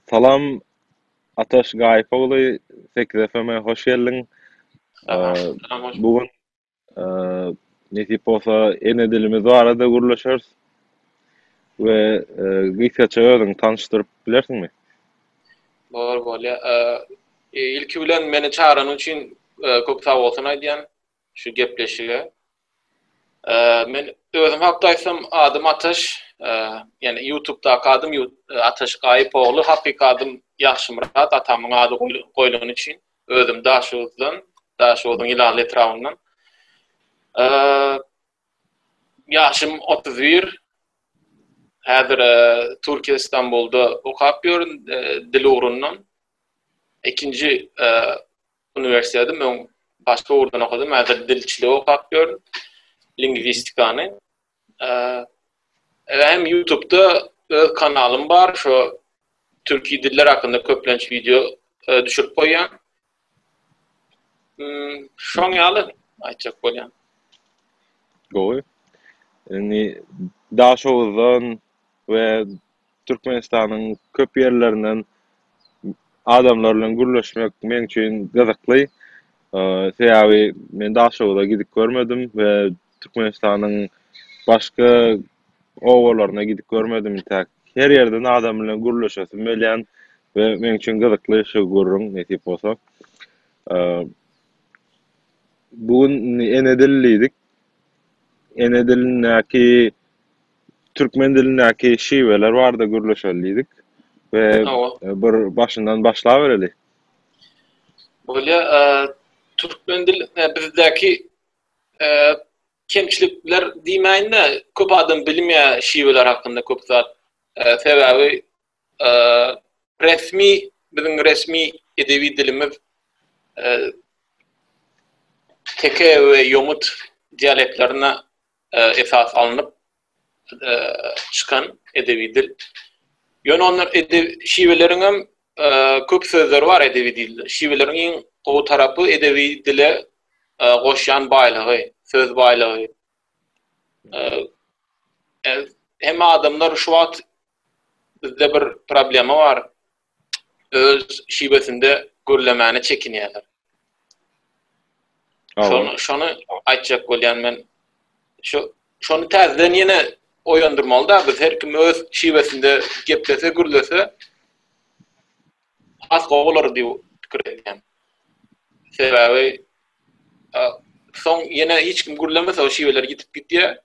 Salam Ataş Gaýyp ogly Sekiz FM-e hoş geldiň. Bu gün nesip bolsa ene dilimiz barada gürleşeris. We gysgaça özüňi tanyşdyryp bilersiňmi? Bor bolýa. Ilki bilen meni çagyranyň üçin köp sag bolsun aýdýan. şu gepleşige. Men özüm hakda aýtsam, adym Ataş, ýani YouTube-daky adym Ataş Gaýyp ogly, hakyky adym Ýagşymyrat, atamyň ady goýlany üçin. Özüm Daşoguzdan, Daşoguzyň Ýylaly etrabyndan. Ýaşym otuz bir. Häzir Türkiýe Istanbulda okap ýörün, dil ugrundan. Ikinji Uniwersiteti men başga ugurdan okadym. Häzir dilçiligi okap ýörün. Lingwistikany. Hem YouTubda öz kanalym bar. Şo türki diller hakynda köplenç wideo düşürip goýýan. Şoň ýaly aýtjak bolýan. Gowy. Indi Daşoguzdan we Türkmenistanyň köp ýerlerinden adamlar bilen gürleşmek meň üçin gyzykly. Sebäbi men Daşoguza gidip görmedim we Türkmenistanyň başga obalaryna gidip görmedim entäk. Her ýerden adam bilen gürleşesim gelýän we meň üçin gyzykly şu gürrüň nesip bolsa. Bu gün indi ene dili diýdik. Ene dilindäki Türkmen dilindäki şiweler barada gürleşeli diýdik we bir başyndan başlabereli. Bolýa, türkmen dil bizdäki kemçilikler diýmäýin-de, köp adam bilmeýär şiweler hakynda köp zat. Sebäbi resmi, biziň resmi edebi dilimiz teke we ýomut dialektlerine esas alnyp çykan edebi dil. Ýöne ondan şiweleriň hem köp sözleri bar edebi dilde. Şiweleriň iň gowy tarapy edebi dile goşýan baýlygy, söz baýlygy. Hemme adamlar şu wagt bizde bir problema bar. öz şibesinde gürlemäne çekinýärler. Şony, şony aýtjak bolýan men. Şu şony täzeden ýene oýandyrmaly da biz her kim öz şibesinde geplese gürlese has gowy bolar diýip pikir edýän. Sebäbi soň ýene hiç kim gürlemese o şibeler ýitip gitýär.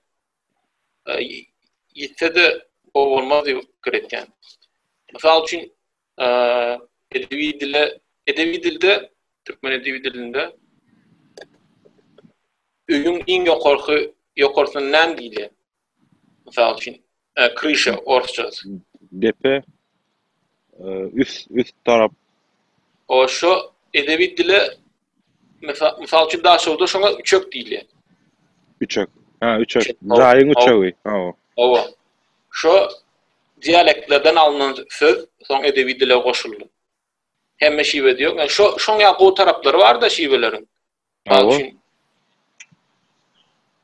ýitse-de gowy bolmaz diýip pikir etýän. Mysal üçin, edebi dile, edebi dilde, türkmen edebi dilinde öýüň iň ýokarky ýokarsyna näme diýilýär? Mysal üçin, krişa orsça. Depe, üst, üst tarap. O, şu edebi dile Mysal üçin Daşoguzda şoňa üçek diýilýär. Üçek. Ha, üçek. Jaýyň üçegi. Hawa. Hawa. Şo dialektlerden alnan söz soň edebi dile goşuldy. Hemme şiwe diýok. Yani şo şoň ýa gowy taraplary bar-da şiweleriň. Hawa.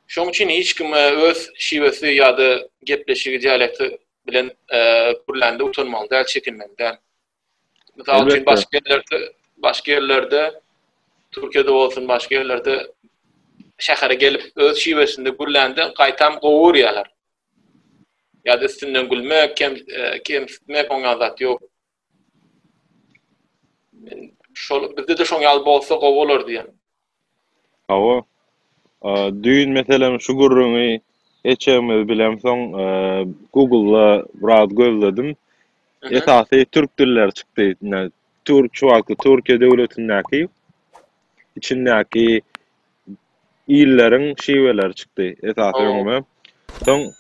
Şoň üçin hiç kim e, öz şiwesi ýa-da gepleşigi dialekti bilen e, gürlände utanmaly däl, çekinmeli däl. Mysal üçin, başga ýerlerde, başga ýerlerde, Türkiýede bolsun, başga ýerlerde şähere gelip, öz şiwesinde gürlände gaýtam gowy görýärler. Ýa da üstünden gülmek, kem, e, kemsitmek, oňa zat ýok. Men şol bizde-de şoň ýaly bolsa gowy bolar diýen. Hawa, düýn meselem şu gürrüňi eçegimiz bilen soň Google-da biraz gözledim. Esasy türk dilleri çykdy. Şu wagtky Türkiýe döwletindäki içindäki illeriň şiweleri çykdy esasy öňüme. Soň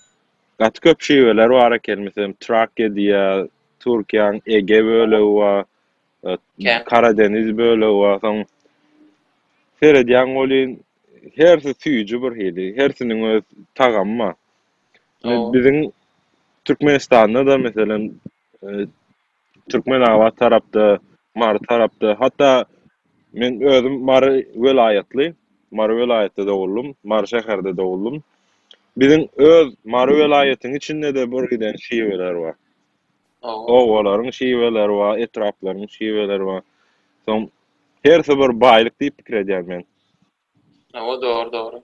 gaty köp şiweler bar eken. Meselem, Trakiýa diýýär, Türkiýäň Ege bölegi bar. Karadeniz bölegi bar, soň seredýäň welin, hersi süýji bir hili, hersiniň öz tagamy bar. Biziň Türkmenistanda-da, meselem, Türkmenabat tarapda, Mary tarapda, hatda men özüm Mary welaýatly, Mary welaýatda doguldym, Mary şäherde doguldym. Biziň öz Mary welaýatyň içinde-de bir giden şiweler bar. Obalaryň şiweleri bar, etraplaryň şiweleri bar. Soň hersi bir baýlyk diýip pikir edýän men. Hawa, dogry, dogry.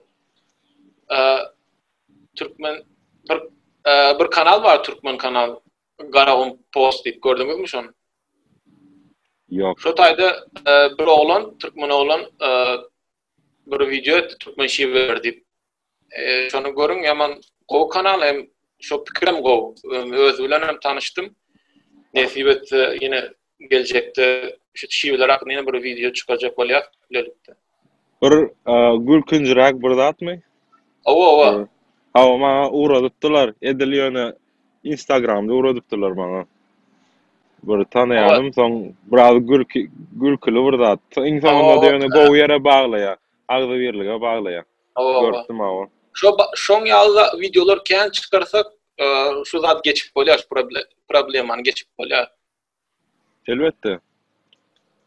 Türkmen bir bir kanal bar, türkmen kanal. Garagum post diýip gördüňizmi şony? Ýok. Şu taýda bir oglan, türkmen oglan Bir wideo etdi türkmen şiweleri diýip. Şony görüň ýaman gowy kanal hem şo pikirem gowy. Özi bilen hem tanyşdym. Nesip etse ýene geljekde şu şiweler hakynda ýene bir wideo çykarjak bolýar bilelikde. Bir gülkünjiräk bir zatmy? Owa, owa. Hawa, maňa ugradypdylar. Edil ýöne Instagramda ugradypdylar maňa. Bir tanaýanym, soň biraz gülki, gülküli bir zat. Iň soňunda ýöne gowy ýere baglaýar, agzybirlige baglaýar. Görüpdim awa. Şo şoň ýaly wideolar kän çykarsak, şu zat geçip bolýar, şu problemany geçip bolýar. Elbetde.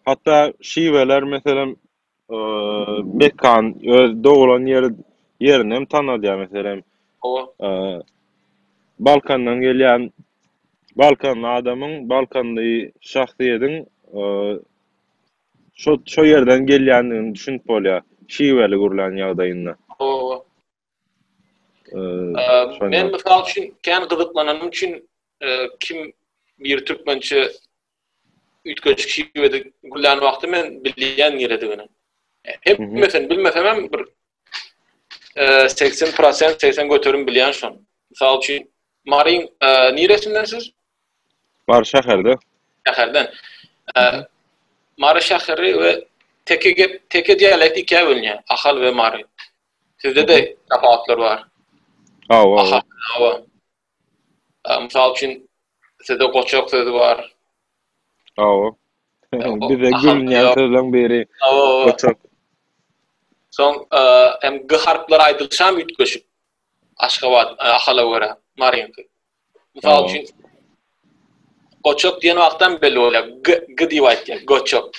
Hatda şiweler, meselem, eee, mekan, öz doglan ýeri, ýerini hem tanadýar, meselem, Hawa. eee, Balkandan gelýän balkanly adamyň, balkanly şahsyýetiň, eee, şo, şo ýerden gelýändigini düşünip bolýar, şiweli gürlän ýagdaýynda. Hawa, hawa. Ee, men misal üçin kän gyzyklananym üçin e, kim bir türkmençe üýtgeşik şiwede gülän wagty men bilýän niredigini. Hemmesini bilmesem hem bir 80% e, 80 göterim bilýän şon. Misal üçin Marin e, niresinden siz? Mary şäherde. Şäherden. Mary şäheri we teke gep, teke dialekt ikä bölünýär. Ahal we Mary. Sizde-de tapawutlar bar. Hawa, hawa. Aha, hawa. Ä, Mysal üçin, sizde goçak sözi bar. Hawa. Hawa, Bize aha, gülünýän ýok. sözleň biri Hawa, hawa. goçak. Soň, ä, hem g harplary aýdylyşam üýtgeşik. Aşgabat, ä, Ahala görä, maryňky. Mysal üçin, goçok diýen wagtdan belli bolýar. G, g diýip aýdýar, goçok.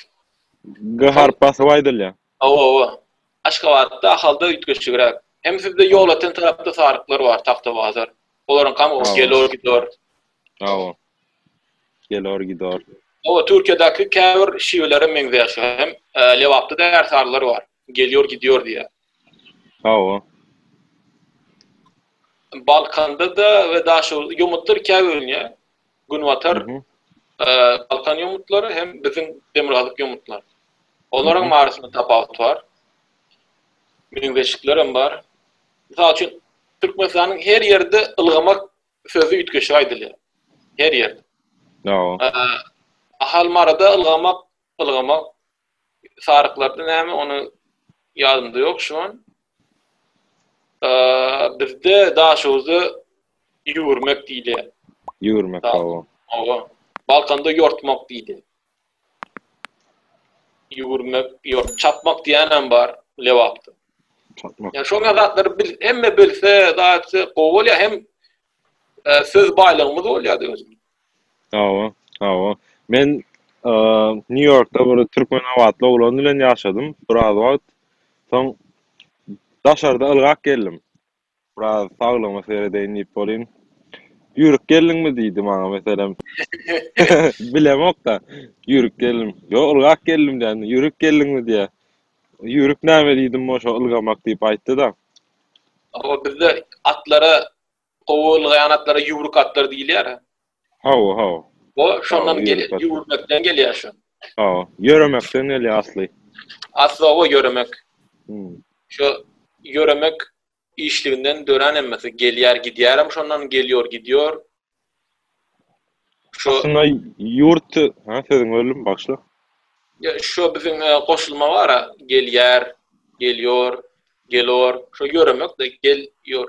G harp basyp aýdylýar. Hawa, hawa. Aşgabatda, Ahalda üýtgeşigräk. Hem sizde ýol atan tarapda saryklar bar, tagta bazar. Olaryň kam o gelor gidor. Hawa. Gelor gidor. Hawa, Türkiýedäki käbir şiwelere meňzeýär şu hem. Lebapda da ärsarlar bar. Gelýor gidýor diýýär. Hawa. Balkanda-da we Daşoguzda ýomutlar ikä bölünýär. Günbatar Balkan ýomutlary hem biziň demirgazyk ýomutlary. Olaryň arasynda tapawut bar. Meňzeşlikler hem bar. Mysal üçin, Türkmenistanyň her ýerde ylgamak sözi üýtgeşik aýdylýar. Her ýerde. Hawa. Ahalmarada ylgamak Ylgama saryklapmy näme ony ýadymda ýok şu an. Bizde Daşoguzda ýüwürmek diýilýär. Ýüwürmek hawa. Hawa. Balkanda ýortmak diýdi. Ýüwürmek, ýort, çapmak diýenem bar Lebapda. Çapmak. Ýa şoňa zatlary bil, hemme bilse, zatlary gowy bolýar hem söz baýlygymyz bolýar özüm. Hawa, hawa. Men, eee, Nýu-Ýorkda bir türkmenabatly oglan bilen ýaşadym biraz wagt. Soň daşarda ylgap geldim. Biraz saglygyma seredeýin diýip bolýyn. Ýürik geldiňmi diýdi maňa meselem. Bilemok-da. Ýürik geldim. Ýok, ylgap geldim diýen. Ýürik geldiňmi diýýär. Ýürik näme diýdim, o şo ylgamak diýip aýtdy-da. Hawa, bizde atlara Gowurlga ýanaklara ýüwrük atlar diýilýär. Hawa, hawa. Bu şondan gelýär, ýüwürmekden gelýär şu. Hawa, ýöremekden gelýär asly. Asly hawa ýöremek. Hmm. Şu ýöremek işliginden dören hemmesi gelýär, gidýär hem şondan gelýär, gidýär. Şu aslynda ýurt, ha sözüň bölüm başla. Ya şu biziň e, goşulma bar, gelýär, gelýär, gelor, şu ýöremek de gelýär.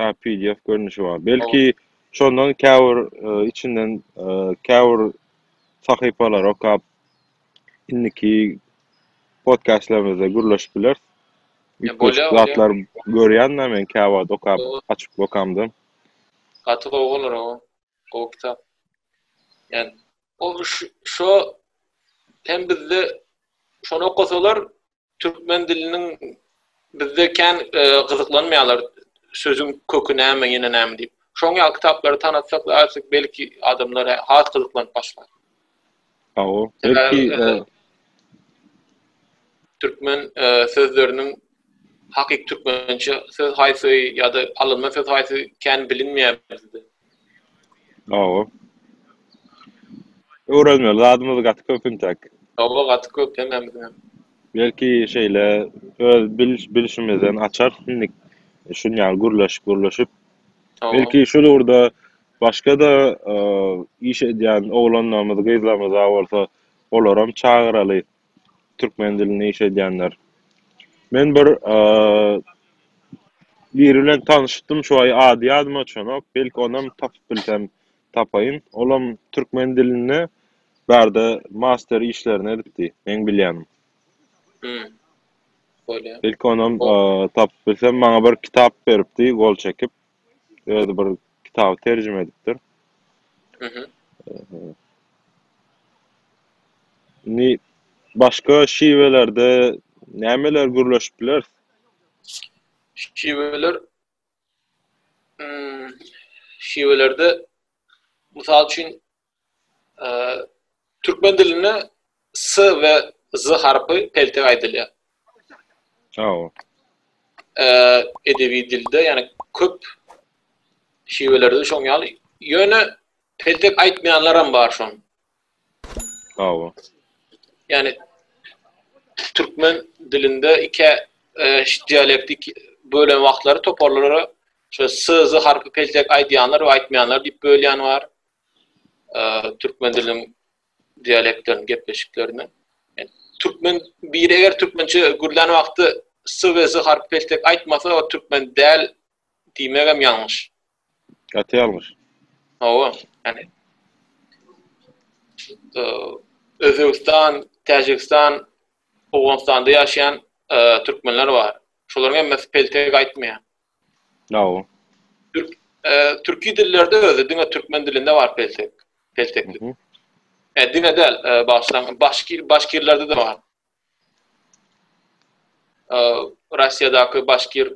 Hä pdf görnüşi bar. Belki şondan käbir e, içinden e, käbir sahypalary okap indiki podcastlarymyzda gürleşip bileris. Ya, Üç bolýar, bolýar. zatlar görýän-de men käwagt okap, Dogry. açyp okamda. Gaty gowy bolar o. Gowy kitap. Yani o şu- şo hem bizde şony okasalar Türkmen diliniň bizde kän gyzyklanmaýarlar sözüň köki näme ýene näme diýip. Şoň ýaly kitaplary tanatsak aýtsak belki adamlar has gyzyklanyp başlar. Hawa, belki türkmen sözleriniň hakyky türkmençe söz haýsy ýa-da alynma söz haýsy kän bilinmeýär bizde. Hawa. Öwrenmeli zadymyz gaty köp intäk. Hawa gaty köp hemmämiziňem. Belki şeýle öz bilişimizden açar indik şun ýaly gürleşip gürleşip. Belki şul ugurda başgada iş edýän oglanlarymyz gyzlarymyz bar bolsa olaram çagyraly Türkmen dilinde iş edýänler. Men bir biri bilen tanyşypdym şu aý ady ýadyma çonok belki onam tapyp bilsem tapaýyn olam türkmen dilinde bärde master işlerini edipdi meň bilýänim. Hum. Bolýar. Belki onam tapyp bilsem maňa bir kitap beripdi gol çekip. Özi bir kitaby terjime edipdir. Indi başga şiwelerde nämeler gürleşip bileris? Şiweler hmm, şiwelerde mysal üçin Türkmen dilinde s we z harpy peltek aýdylýar. Sag ol. Edebi dilde, ýani köp şiwelerde şoň ýaly. Ýöne peltek aýtmaýanlar hem bar şoň. Sag ol. Ýani türkmen dilinde iki e, dialektik bölen wagtlary toparlara şu s z harpy peltek aýdýanlar we aýtmaýanlar diýip bölýän bar. türkmen diliniň dialektlerini, gepleşiklerini. Türkmen bir eger türkmençe gürlän wagty s we z harp peltek aýtmasa, o türkmen däl diýmegem ýalňyş. Gaty ýalňyş. Hawa, ýani Özbegistan, Täjigistan, Owganystanda ýaşaýan türkmenler bar. Şolaryň hemmesi peltek aýtmaýar. Nawa. Türk türki dillerde özi diňe türkmen dilinde bar peltek. Pelteklik. E diňe däl, başlan başki başkirlerde de bar. E Russiýadaky başkir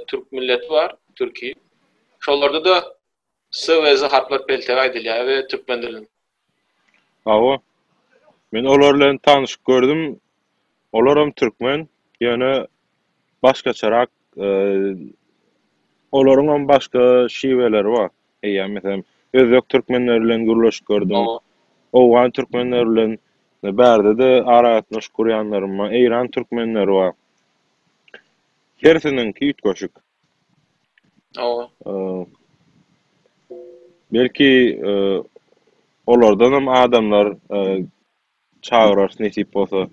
türk milleti bar, türki. Şolarda da S we Z harplar peltek aýdylýar we türkmen dilinde. Hawa. Men olar bilen tanyşyp gördüm. Olaram türkmen, ýöne başgaçarak, olaryňam başga şiweleri bar. Eýýäm, meselem, özbek türkmenleri bilen gürleşip gördüm. Owgan türkmenleri bilen bärde-de aragatnaşyk gurýanlarym bar. Eýran türkmenleri bar. Hersiniňki üýtgeşik. Hawa. Belki olardanam adamlar çagyrarys nesip bolsa.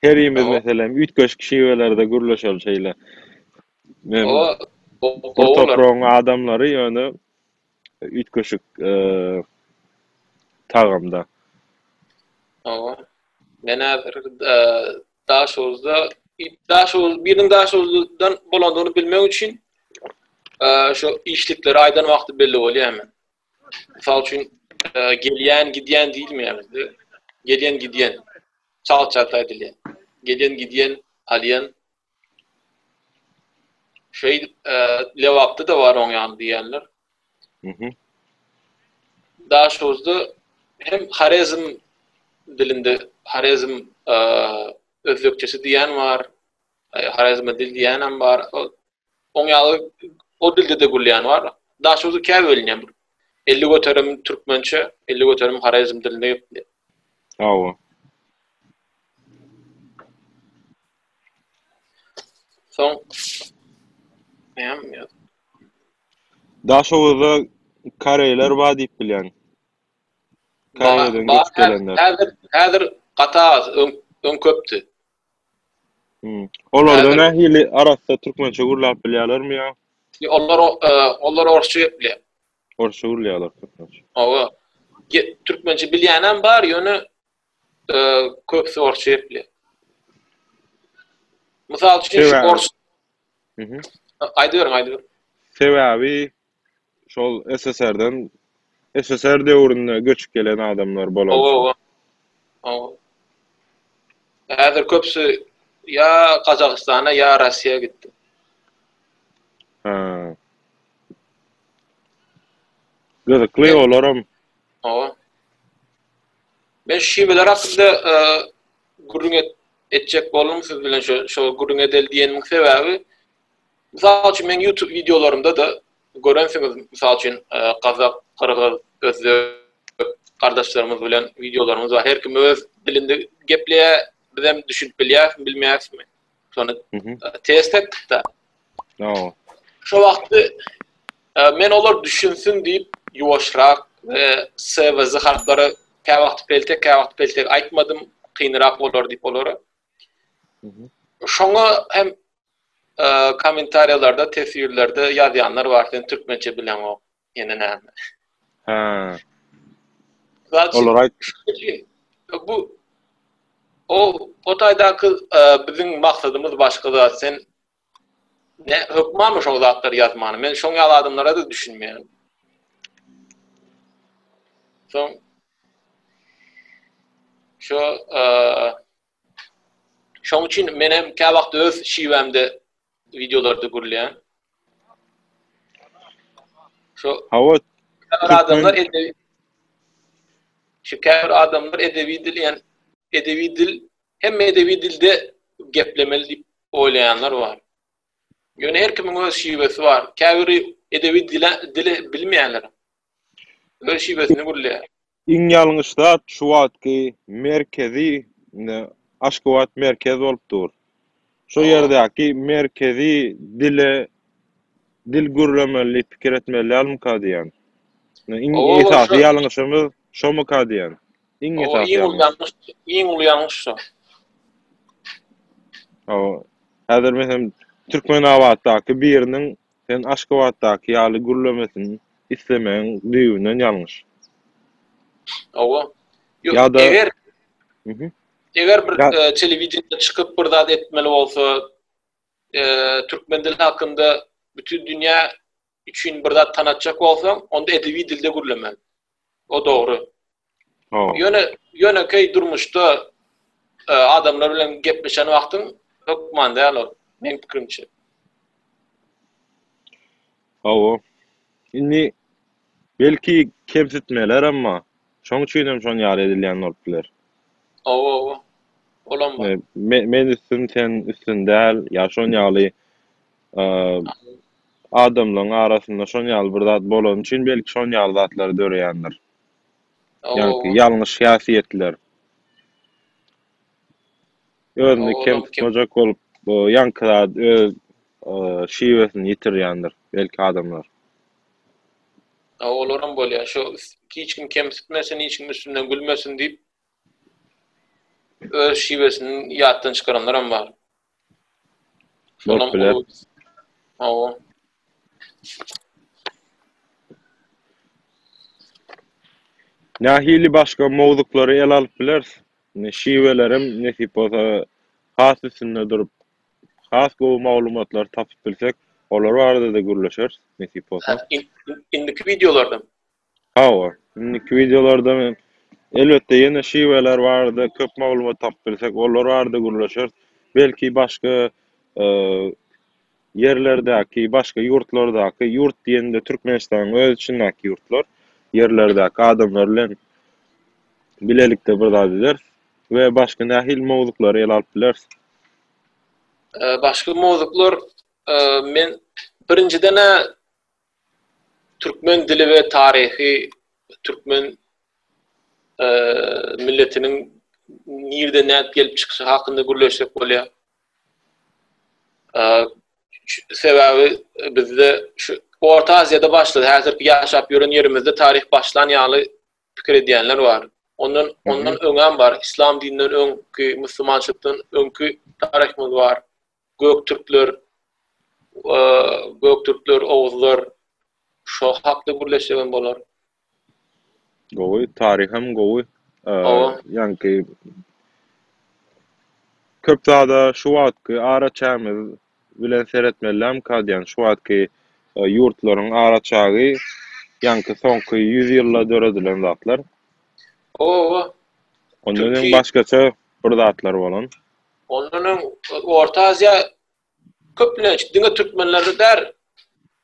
Herimiz meselem üýtgeşik şiwelerde gürleşeli şeýle. Hawa. Bir topragyň adamlary ýöne üýtgeşik tagamda. Hawa. Men häzir Daşoguzda Daşoguz biriniň Daşoguzdan bolandygyny bilmek üçin şu işlikleri aýdan wagty belli bolýar men. Mysal üçin gelýän, gidýän diýilmeýär bizde. Gelýän, gidýän. Çalt çalt aýdylýar. Gelýän, gidýän, alýan. Şeýdip, Lebapda da bar oň ýaly diýýänler. Daşoguzda hem Horezm dilinde Horezm özbekçesi diýen bar. Horezm dil diýenem bar. Oň ýaly o dilde-de gürleýän bar. Daşoguzda kä bölünýär? 50 göterim türkmençe, 50 göterim Horezm dilinde gepleýär. Hawa. Soň näme ýa? Daşoguzda koreýler bar diýip bilýän. Koreýadan göçüp gelenler. Häzir, häzir gaty az, öň, öň köpdi. Hmm. Olarda nähili arassa türkmençe gürläp bilýärlermi ýa? Onlar, e, onlar orsça gepleýär. Orsça gürleýärler türkmençe. Hawa. Türkmençe bilýän hem bar, ýöne köpüsi orsça gepleýär. Mysal üçin şu ors Aýdyberiň, aýdyberiň. Sebäbi şol SSR-den SSR döwründe göçüp gelen adamlar bolan. Owa, owa. Owa. Häzir köpüsi ýa Gazagystana, ýa Russiýa gitdi. Ha. Gyzykly olaram. Owa. Men şu şiweler hakynda gürrüň et, etjek boldum siz bilen şu şu gürrüň edel diýenimiň sebäbi mysal üçin men YouTube wideolarynda da görensiňiz mysal üçin e, gazak, gyrgyz, özbek gardaşlarymyz bilen wideolarymyz bar. Her kim öz dilinde gepleýär, biz hem düşünip bilýäris, bilmeýärismi? Şony test etdik-de. No. Şo wagtda e, men olar düşünsin diýip ýuwaşrak we SVZ harplary kä wagt peltek, kä wagt peltek aýtmadym, kynrak bolar diýip olara. Şoňa hem e, kommentariýalarda, teswirlerde ýazýanlar bar, sen türkmençe bileňok. Ýene näme? Hä. Olar aýtdy. Bu o o taýdaky e, biziň maksadymyz başga zat. Sen ne hökman şo zatlary ýazmany. Men şoň ýaly adamlara da düşünmeýän. Soň şo e, Şoň üçin men hem kä wagt öz şiwämde wideolarda gürleýän. Şu Hawa, adamlar edebi Şu käbir adamlar edebi dil ýan edebi dil hem edebi dilde geplemeli diýip oýlaýanlar bar. Ýöne her kimiň öz şiwesi bar. Käbiri edebi dile dile bilmeýänler. Öz şiwesini gürleýär. Iň ýalňyş zat şu wagtky merkezi Aşgabat merkez bolup dur. Şo ýerdäki merkezi dile dil gürlemeli pikir etmeli dälmika diýýän. Iň esasy ýalňyşymyz şomyka diýýän. Iň esasy ýalňyş. Iň uly ýalňyş şo. Hawa. Häzir meselem Türkmenabatdaky biriniň Sen Aşgabatdaky ýaly gürlemesin islemegiň düýbünden ýalňyş. Hawa. Ýa-da eger eger bir telewideniýede çykyp bir zat etmeli bolsa, türkmen dili hakynda bütin dünýä üçin bir zat tanatjak bolsaň, onda edebi dilde gürlemeli. O dogry. Ýöne ýönekeý durmuşda e, adamlar bilen gepleşen wagtyň hökman däl ol. Men pikirimçe. Hawa. Indi belki kemsitmeler emma şoň üçin hem şon ýaly edilýän bolup biler. Hawa, hawa. Olam bar. Men üstün, sen üstün däl, ýa şon ýaly adamlaryň arasynda şon ýaly bir zat bolany üçin belki şon ýaly zatlar döreýändir. Ýaňky ýalňyş häsiýetler. Özüni kem tutmajak bolup bu ýaňky zat öz şiwesini ýitirýändir belki adamlar. Olaram bolýar. Şu hiç kim kemsitmesin, hiç kim üstünden gülmesin diýip Öz şiwesini ýatdan çykaranlaram bar. Şonam uly. Hawa. Nähili başga mowzuklary ele alyp bileris? Indi şiwelerem nesip bolsa has üstünde durup, has gowy maglumatlary tapyp bilsek, olar barada-da gürleşeris, nesip bolsa. Indiki wideolarda? Hawa, indiki wideolarda men, elbetde, ýene şiweler barada köp maglumat tapyp bilsek, olar barada gürleşeris. Belki, başga, eee, ýerlerdäki, başga ýurtlardaky, ýurt diýende, Türkmenistanyň öz içindäki ýurtlar, ýerlerdäki adamlar bilen bilelikde bir zat ederis we başga nähili mowzuklary ele alyp bileris? Eee, başga mowzuklar, eee, men, birinjiden-ä, Türkmen dili we taryhy türkmen milletiniň nirden nädip gelip çykyşy hakynda gürleşsek bolýar. Sebäbi bizde şu Orta Aziýada başlady. Häzirki ýaşap ýören ýerimizde taryh başlan ýaly pikir edýänler bar. Ondan ondan öňem bar. Islam dininden öňki, musulmançylykdan öňki taryhymyz bar. Göktürkler, Göktürkler, Oguzlar şo hakda gürleşsek hem bolar. Gowy, taryh hem gowy. Ýanki köp zada şu wagtky ara çägimiz bilen seretmelem kadýan. Şu wagtky ýurtlaryň ara çägi ýanki soňky 100 ýylda döredilen zatlar. Owa. Ondan hem başgaça bir zatlar bolan. Ondan öň Orta Aziýa köplenç diňe türkmenleri däl,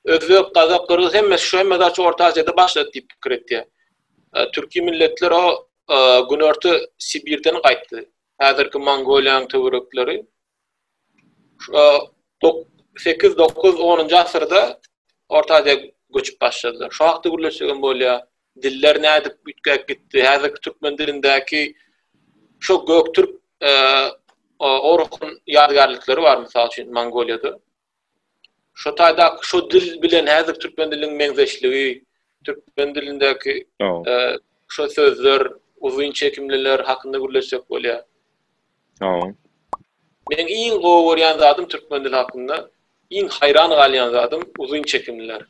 özbek, gazak, gyrgyz hemmesi şu hemme zat Orta Aziýada başlady diýip pikir etýär. E, türki milletler o e, günorta Sibirden gaýtdy. Häzirki Mongoliýanyň töwerekleri. 8, 9, 10-njy asyrda Orta Aziýa göçüp başladylar. Şu wagtda gürleşsegem bolýar. Diller nädip üýtgäp gitdi? Häzirki türkmen dilindäki şu göktürk orhun ýadygärlikleri bar, mysal üçin, Mongoliýada. Şu taýda şu dil bilen häzirki türkmen diliniň meňzeşligi, türkmen dilindäki şu sözler, uzyn çekimliler hakynda gürleşsek bolýar. Sagboluň. Meň iň gowy görýän zadym türkmen dili hakynda iň haýran galýan zadym uzyn çekimliler.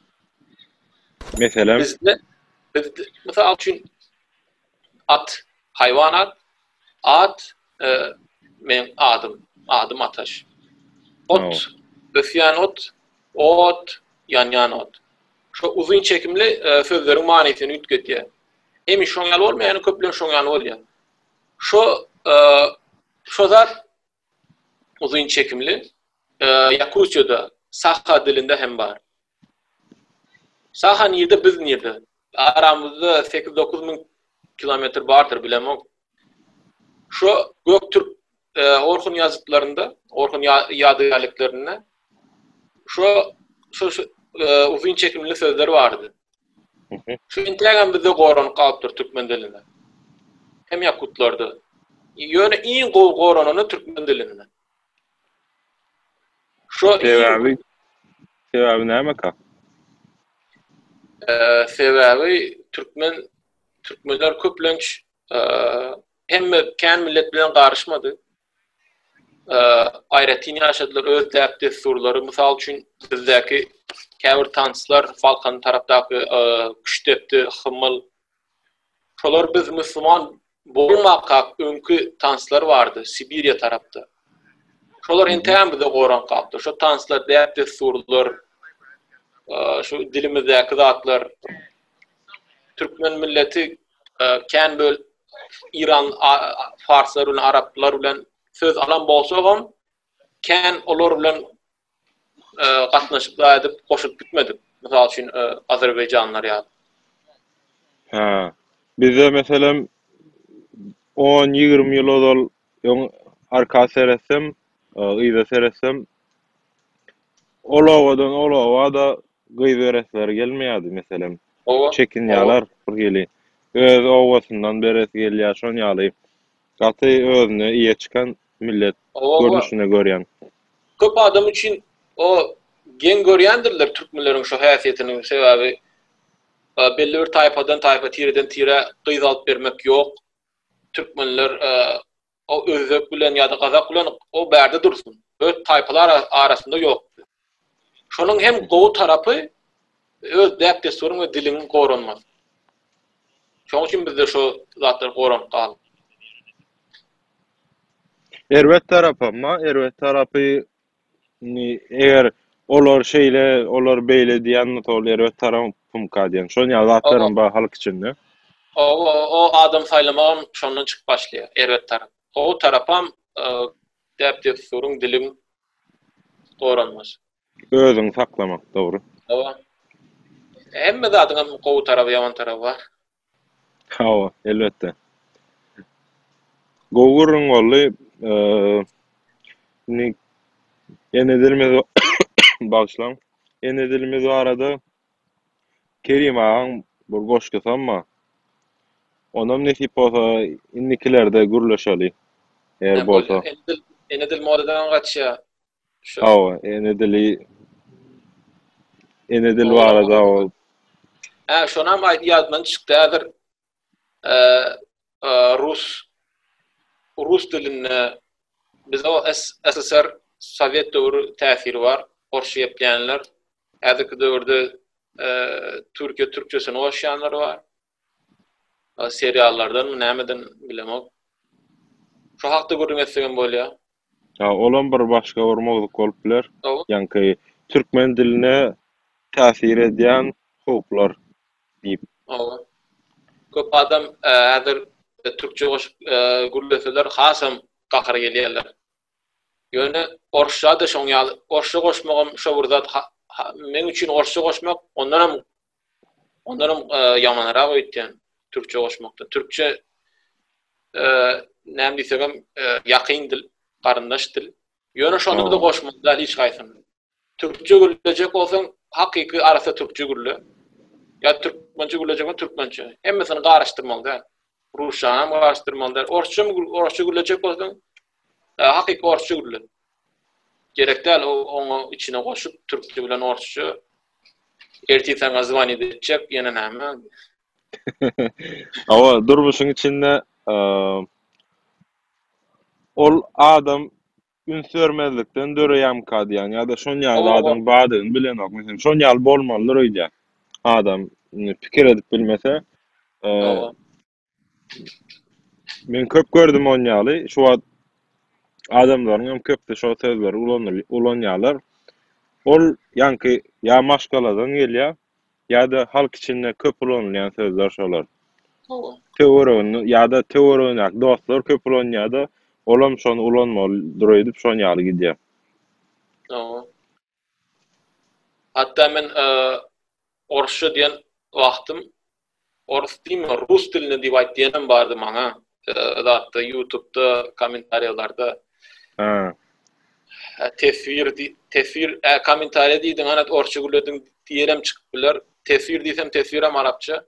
Meselem? Bizde bizde mysal üçin at haýwanat at meň adym adym ataş ot ösýän ot ot ýanýan ot şo uzyn çekimli sözleriň manysyny üýtgedýär hemişe şoň ýaly bolmaýar köplenç şoň ýaly bolýar Şo şo zat uzyn çekimli Ýakutiýada saha dilinde hem bar. Saha nirde biz nirde? Aramyzda sekiz dokuz müň kilometr bardyr bilemok. Şo göktürk Orhun ýazytlarynda, Orhun ýadygärliklerinde şu şu uzyn çekimli sözler bardy. Şu intägem bizde goranyp galypdyr türkmen dilinde. Hem ýakutlarda. Ýöne iň gowy goranyny türkmen dilinde. Şu sebäbi sebäbi näme ka? Eee sebäbi türkmen türkmenler köplenç Hemme kän millet bilen garyşmady. Aýratyn ýaşadylar öz däp-dessurlary, mysal üçin, bizdäki käbir tanslar, Balkan tarapdaky küştdepdi, hymyl. Şolar biz musulman bolmakak öňki tanslar bardy Sibiriýa tarapda. Şolar entägem bize goran gapdy. Şo tanslar, däp-dessurlar, şu dilimizdäki zatlar türkmen milleti kän böl Iran farslar bilen araplar bilen söz alan bolsagam kän olar bilen e, gatnaşykda edip goşup gitmedik. Mysal üçin e, Azerbaýjanlar ýaly. Ha. Bizde meselem 10-20 ýyl ozal öň arka seretsem, e, yza seretsem Ol obadan ol oba-da gyz beresleri gelmeýärdi, meselem. Hawa. Çekinýärler birhili. Öz obasyndan beresi gelýär, şon ýaly. Gaty özüne eýe çykan millet Hawa-hawa. görnüşinde görýän. Köp adam üçin o geň görýändirler türkmenleriň şo häsiýetini, sebäbi belli bir taýpadan taýpa, tireden tire gyz alyp bermek ýok. Türkmenler O özbek bilen ýa-da gazak bilen o bärde dursun. Öz taýpalar arasynda ýok. Şonuň hem gowy tarapy öz däp-dessuryň we diliň goranmasy. Şonuň üçin bizde şo zatlar goranyp galdy. Erbet tarapy, erbet tarapy Indi eger olar şeýle, olar beýle diýen mysal erbet tarap pumka diýen. Şol ýaly zatlaram bar halk içinde. O o o adam saýlamagam şondan çykyp başlaýar erbet tarap. O tarapam däp dessuryň diliň goranmasy. Özüňi saklamak dogry. Hemme zadyňam gowy taraby ýaman taraby bar. Hawa, elbetde. Gowy gürrüň boldy. Indi ene dilimiz bagyşlaň, ene dilimiz barada Kerim agaň bir goşgusam bar. Onam nesip bolsa indikilerde gürleşeli, eger bolsa. Ene dil modadan gaçýar. Hawa, ene dili ene dil barada ol. Hä, şonam aýt ýadymdan çykdy häzir. Rus rus dilinde biz o SSR sowet döwri täsiri bar. Orsça gepleýänler. Häzirki döwürde Türkiýe türkçesini goşýanlar bar. seriallardanmy nämeden bilemok. Şu hakda gürrüň etsegem bolýar. Ha, olam bir başga bir mowzuk bolup biler. Ýaňky türkmen diline täsir edýän howplar diýip. Hawa. Köp adam häzir türkçe goşup gürleseler hasam gahar gelýärler. Ýöne orsça-da şoň ýaly. Orsça goşmagam şo bir zat. Meň üçin orsça goşmak ondanam Ondanam ýamanrak öýtýän türkçe goşmakda. Türkçe näme diýsegem ýakyn dil, garyndaş dil. Ýöne şony bize goşmak däl hiç haýsyn. Türkçe gürlejek bolsaň, hakyky arassa türkçe gürle. Ýa türkmençe gürlejek bolsaň, türkmençe. Hemmesini garyşdyrmaly däl. Rusçany hem garyşdyrmaly däl. Orsça, orsça gürlejek bolsaň, hakyky orsça gürle. Gerek däl oňa içine goşup türkçe bilen orsça ertir saňa zwanit etjek ýene näme. Awa durmuşyň içinde ol adam üns bermezlikden döreýärmika diýýän ýa-da şon ýaly adam bardygyny bilenok. Meselem şon ýaly bolmalydyr öýdýän. Adam pikir edip bilmese Men köp gördüm on ýaly, şu wagt adamlaryň hem köpüsi şol sözleri ulanýarlar. Ol ýaňky ýa maşgaladan gelýär, ýa-da halk içinde köp ulanylýan sözler şolar. Hawa. Töwereginde ýa-da töweregindäki dostlar köp ulanýar-da, olam şony ulanmalydyr öýdüp şon ýaly gidýär. Hawa. Hatda men orsça diýen wagtym ors diýme rus dilinde diýip aýt diýenem bardy maňa zatda ýutubda kommentariýalarda. Hä. Teswir teswir ä kommentariýa diýdiň anat orsça gürlediň diýenem çykyp biler. Teswir diýsem teswirem arapça.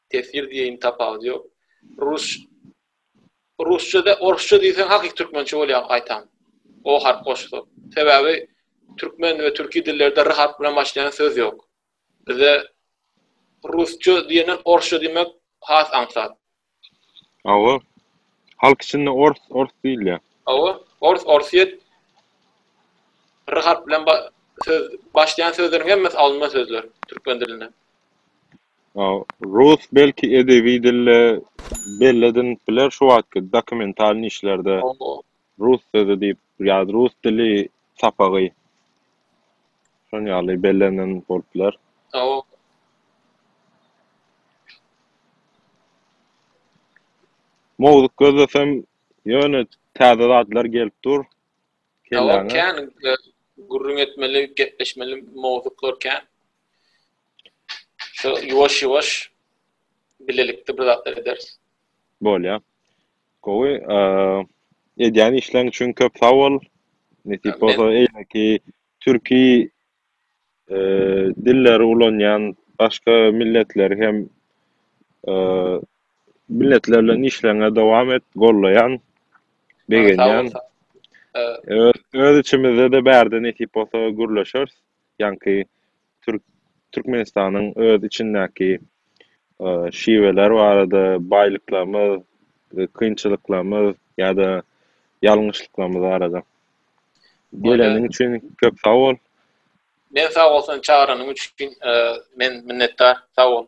Tesir diýeýin tapawudy ýok. Rus Rusçada, orsça diýseň hakyky türkmençe bolýar gaýtam. O harp goşsa. Sebäbi türkmen we türki dillerde r harp bilen başlaýan söz ýok. Bize rusça diýenden orsça diýmek has aňsat. Hawa. Halk içinde ors, ors diýilýär. Hawa, ors, orsyýet. R harpy bilen ba söz başlaýan sözleriň hemmesi alynma sözler türkmen dilinden. A rus belki edebi dilde belledinip biler şu wagtky dokumentalnyý işlerde. Hawa, Rus sözi diýip ýa rus dili sapagy şon ýaly bellenen bolup biler. Sawol. Mowzuk gözlesem ýöne täze zatlar gelip dur kellaňe. Kän gürrüň etmeli gepleşmeli mowzuklar kän. Şo ýuwaş ýuwaş bilelikde bir zatlar ederis. Bolýa. Gowy edýän işleň üçin köp sag bol. Nesip bolsa eýleki türki dilleri ulanýan başga milletleri hem milletler bilen işleňe dowam et gollaýan begenýän öz içimizde-de bärde nesip bolsa gürleşeris. ýaňky türk Türkmenistanyň öz içindäki şiweler barada, baýlyklarymyz, kynçylyklarymyz ýa-da ýalňyşlyklarymyz barada. Geleniň üçin köp sag bol. Men sag bol sen çagyranyň üçin men minnetdar. Sag bol.